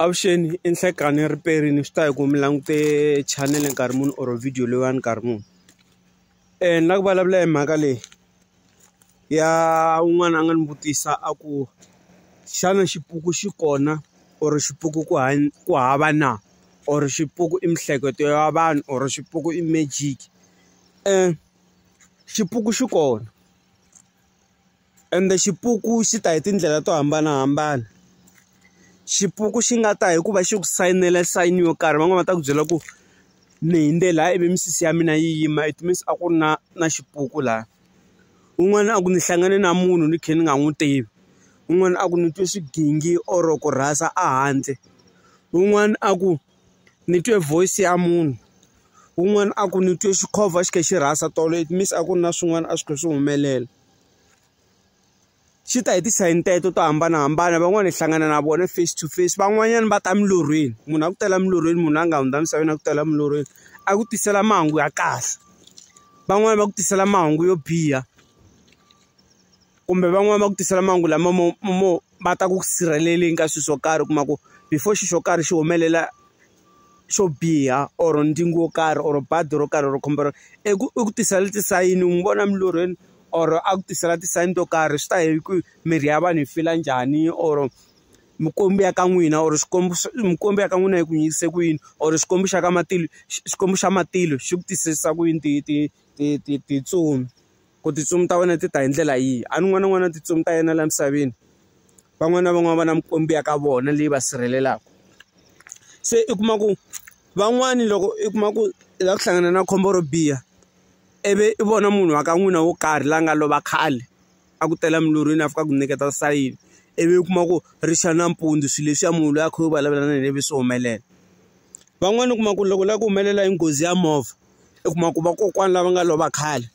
Avuxeni i Nhlekani riperini swi ta hi ku mi langute channel nkarhi muni or video leyiwani nkarhi muni ni lava ku vulavula hi mhaka leyi ya un'wana a nga ni vutisa a ku xana xipuku xi kona or xipuku ku hanya ku hava na or xipuku i miehleketo ya vanhu or xipuku i magic xipuku xi kona Ende xipuku xi ta hi tindlela to hambanahambana. Xipuku xi nga ta hi ku va xi ku sayinela sayini yo karhi van'wani va ta ku byela ku ni hundze laha ivi misisi ya mina yi yima it means a ku ri na na xipuku laha. Un'wana a ku ni hlangane na munhu ni kha ni nga n'wi tivi, un'wana a ku ni twe swigingi or ku rhasa ehandle, un'wana a ku ni twe voice ya munhu, un'wana a ku ni twe xikhova xi kha xi rhasa tolo it means a ku ri na swin'wana a swi kha swi humelela. swi ta hi ti-sign teto to hambanahambana van'wani hi hlangana na vona face to face van'wanyana va ta milorhweni munhu a ku tela milorhweni munhu a nga hundza misaveni a ku tela milorhweni a ku tisela mahungu ya kahle van'wani va ku tisela mahungu yo biha kumbe van'wani va ku tisela mahungu lama mo mo va ta ku sirheleleni ka swilo swo karhi u kuma ku before xilo xo karhi xi humelela. xo biha or ntsengo wo karhi or bazi ro karhi ro khombo i ku i ku tisela tisayini n'wi vona emilorhweni or a ku tisela tisayini to karhi swi ta ya hi ku mirhi ya vanhu yi fila njhani or mikwembu ya ka n'wina or xikwembu mikwembu ya ka n'wina yi ku yingise ku yini or xikwembu xa ka matilo xikwembu xa matilo xi ku tisela ku yini ti ti ti ti tintsumi. Ku tintsumi ta wena ti ta hi ndlela yihi? A ni n'wana n'wana tintsumi ta yena laha misaveni van'wana na van'wana va na mikwembu ya ka vona leyi va sirhelelaka se i kuma ku van'wani loko i kuma ku i lava ku hlangana na khombo ro biha ivi i vona munhu wa ka n'wina wo karhi la nga lova khale a ku tela milorhweni a fika ku nyiketa sayini ivi u kuma ku ri xa nampundzu swilo leswiya munhu loyi a kha u vulavula na yena ivi swi humelela van'wani u kuma ku loko u lava ku humelela hi nghozi ya movha i kuma ku vakokwana lava nga lova khale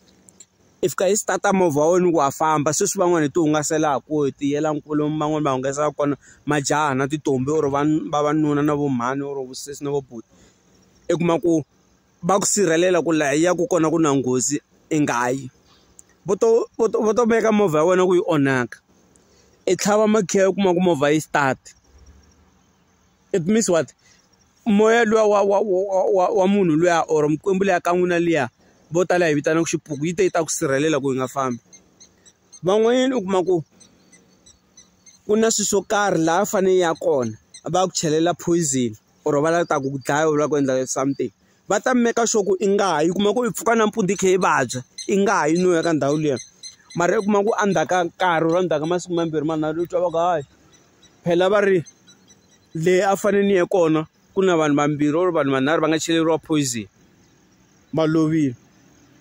i fika i start movha wa wena ku wa famba sweswi van'wani hi ti hungaselaku ku hi ti yela kule van'wani va hungasa kona majaha na tintombhi or vanhu vavanuna na vo mhani or vosesi na vo buti i kuma ku va ku sirhelela ku laha ya ku kona ku na nghozi i nga yi vo to vo to vo to veka movha ya wena ku yi onhaka i tlhava makhiya u kuma ku movha yi start. it means what moya luwa wa wa wa wa wa munhu luya or mikwembu liya ka n'wina liya vo tala hi vitanaka xipuku yi te yi ta ku sirhelela ku yi nga fambi van'wanyana u kuma ku ku na swilo swo karhi laha a fanele ya kona va ku chelela poison or va lava ta ku dlaya u lava ku endla something va ta meka sure ku i nga ha yi kuma ku i pfuka nampundzu i kha i vabya i nga ha yi no ya ka ndhawu liya mara i kuma ku endzhaku ka nkarhi or endzhaku ka masiku mambirhi manharhu u twa va ku hayi phela va ri le a fane ni ye kona ku na vanhu vambirhi or vanhu vanharhu va nga cheleriwa poison va lovile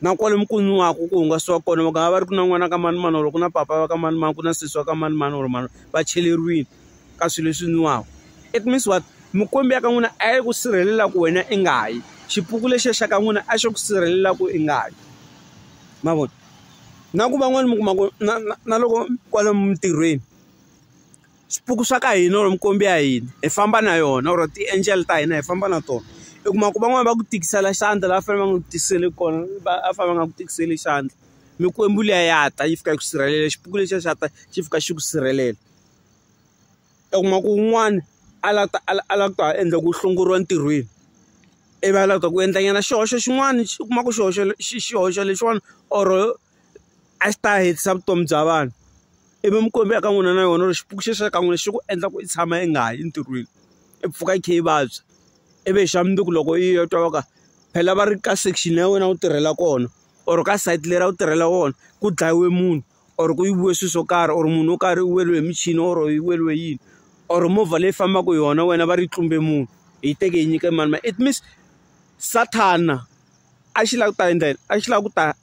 na kwale mi ku nwaku ku hungasiwa kona va nga va ri ku na n'wana ka mani mani or ku na papa va ka mani mani ku na sesi wa ka mani mani or mani va cheleriwile ka swilo leswi nwiwaka it means what mikwembu ya ka n'wina a yi ku sirhelela ku wena i nga yi xipuku lexiya xa ka n'wina a xo ku sirhelela ku i nga yi mavona na ku van'wani mi kuma ku na na na loko kwala mintirhweni. swipuku swa ka hina or mikwembu ya hina hi famba na yona or ti-angel ta hina hi famba na tona i kuma ku van'wani va ku tikisela xandla la fanele va nga ku tikiseli kona va a fanele va nga ku tikiseli xandla mikwembu liya ya ta yi fika yi ku sirhelela xipuku lexiya xa ta xi fika xi ku sirhelela u kuma ku un'wana a la ta a la ku ta endla ku hlongoriwa ntirhweni ivi a la ku ta ku endla nyana xihoxo xin'wana xi kuma ku xihoxo xihoxo lexiwani or a xi ta hetisa vutomi bya vanhu ivi mi kombela ka n'wina na yona ri xipuku xi sweka n'wina xi ku endla ku i tshama i nga ha yi entirhweni i pfuka i kha i vabya ivi hi xa mundzuku loko yi ya twa va ka phela va ri ka section ya wena u tirhela kona or ka site leri a wu tirhela wona ku dlayiwe munhu or ku yiviwe swilo swo karhi or munhu wo karhi u weriwe hi michini or yi weriwe yini or movha leyi fambaka hi yona wena va ri yi tlumbe munhu hi teke hi nyike mani ma it means sathana a xi lava ku ta endla yini a xi lava ku ta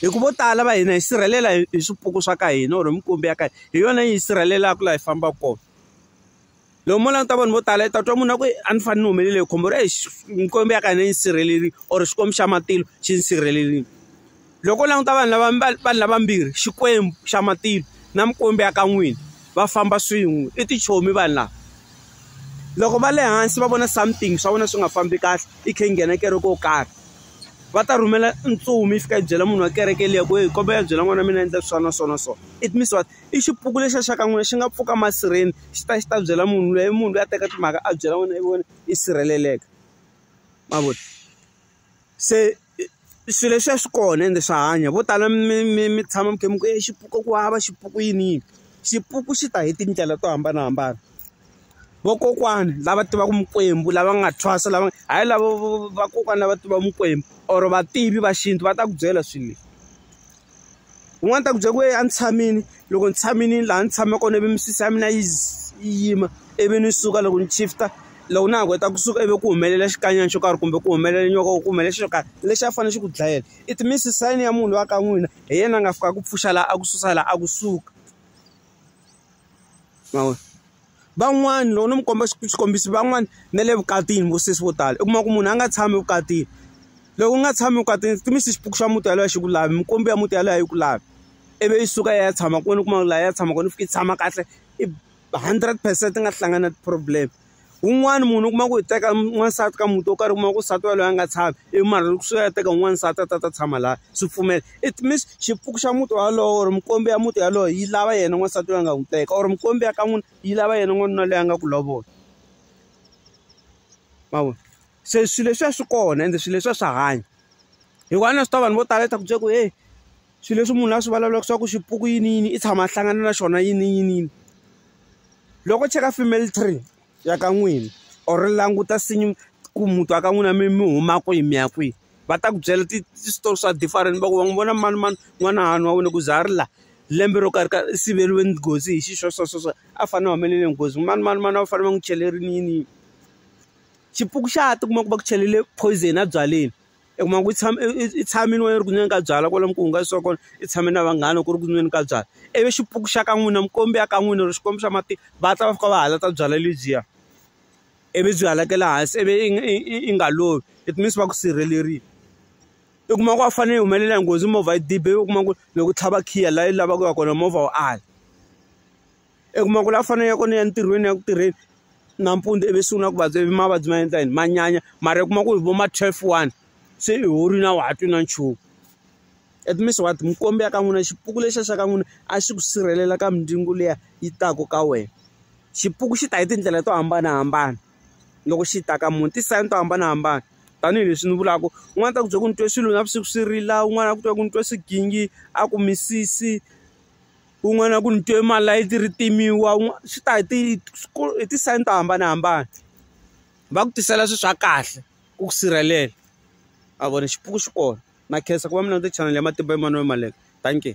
hi ku vo tala va hina hi sirhelela hi hi swipuku swa ka hina or minkumbi ya ka hina hi yona yi hi sirhelelaka laha hi fambaka kona loko mo languta vanhu vo tala yi ta twa munhu a ku a ni fanele ni humelele hi khombo ra hi minkombi ya ka hina yi sirhelerile or xikwembu xa matilo xi ni sirhelerile loko u languta vanhu lava vanhu lavambirhi xikwembu xa matilo na mikwembu ya ka n'wini va famba swin'we i tichomi vanhu lava loko va le hansi va vona something swa vona swi nga fambi kahle i khe i nghena kereke yo karhi. va ta rhumela ntsumi yi fika yi byela munhu wa kereke liya ku yi kombela yi byela n'wana wa mina a endla swa na swa na swa it means what i xipuku lexi xa ka n'wina xi nga pfuka masirheni xi ta xi ta byela munhu loyi i munhu loyi a teka timhaka a byela n'wina i vona i sirheleleka ma vona se swilo leswiya swi kona ende swa hanya vo tala mi mi mi tshama mi kha mi ku i xipuku ku hava xipuku yini yini xipuku xi ta hi tindlela to hambanahambana. vokokwani lava tivaka mikwembu lava nga thwasa lava hayi lavo vakokwani lava tiva mikwembu or vativi va xintu va ta ku byela swilo leswi un'wana ta ku byela ku ye a ni tshamini loko ni tshamini laha ni tshama kona ivi misisi ya mina yi yi yima ivi ni suka loko ni shift-a loko na ha ku heta kusuka ivi ku humelela xikanyana xo karhi kumbe ku humelela nyoka ku humelela xilo karhi lexi a fanele xi ku dlayela it means sign ya munhu loyi a ka n'wina hi yena a nga fika a ku pfuxa laha a ku susa laha a kusuka. ma vo van'wani loko no mi komba xikombiso van'wani na le vukatini vo sesi vo tala u kuma ku munhu a nga tshami evukatini loko u nga tshami evukatini swi tivisa xipuku xa muti yaloye a xi ku lavi mikwembu ya muti yaloye a yi ku lavi ivi yi suka yi ya tshama kwini u kuma laha ya tshamaka ni fika yi tshama kahle i hundred percent ti nga hlangana na ti-problem. un'wana munhu u kuma ku hi teka n'wansati ka muti wo karhi u kuma ku nsati waloye a nga tshami i mara loko swi ya teka un'wana nsati a ta ta tshama laha swi pfumela it means xipuku xa muti walowo or mikombe ya muti yaloye yi lava yena n'wansati loyi a nga n'wi teka or mikombe ya ka n'wina yi lava yena n'wanuna loyi a nga ku lovola ma vona se swilo leswiya swi kona ende swilo leswiya swa hanya hikuva na swi tiva vanhu vo tala leswaku byi ku heyi. swilo leswi munhu a swi vulavulaka swa ku xipuku yini yini i tshama a hlangana na xona yini yini yini loko cheka family tree ya ka n'wina or languta nsinya ku muti wa ka n'wina mi mi huma kwihi mi ya kwihi va ta ku byela ti-story swa different va ku va n'wi vona mani mani n'wanahani wa wena ku za a ri laha lembe ro karhi ka i siveriwe nghozi hi xi swo swo swo swo a fanele a humelele nghozi mani mani mani a va fanele va n'wi chelerile yini yini xipuku xa ha ti kuma ku va ku chelele poison ebyaleni. i kuma ku i tshama i tshamile wena ri ku nweni ka byalwa kwalomu ku hungasiwa kona i tshame na vanghana ku ri ku nweni ka byalwa ivi xipuku xa ka n'wina mukombi ya ka n'wina or xikwembu xa matiko va ta va fika va halata byalwa lebyiya ivi byi halakela hansi ivi i i nga lovi it means va ku sirhelerile i kuma ku a fanele yi humelela hi nghozi movha yi dibe u kuma ku loko u tlhava khiya laha yi lavaka ku ya kona movha wu ala. i kuma ku la fanele ku ni ya entirhweni ya ku tirheni nampundzu ivi sungula ku vabya ivi mavabyi ma endla yini ma nyanya mara i kuma ku hi vo ma twelve one se i horile a wa ha twi na nchumu at least wa ti mikwembu ya ka n'wina xipuku lexiya xa ka n'wina a xi ku sirhelela ka mindyangu liya yi taka ka wena xipuku xi ta hi tindlela to hambanahambana loko xi ta ka munhu ti-sign to hambanahambana tanihileswi ni vulaka un'wana ta ku byela ku ni twe swilo navusiku swi rila un'wana a ku twa ku ni twa swigingi a ku misisi. kun'wana ku ni twe malayithi ri timiwa swi ta hi ti hi ti-sign to hambanahambana va ku tisela swilo swa kahle ku ku sirhelela a vona xipuku xi kona na khensa ku va mi languta chanel ya matimba Emmanuel Maleka dankie.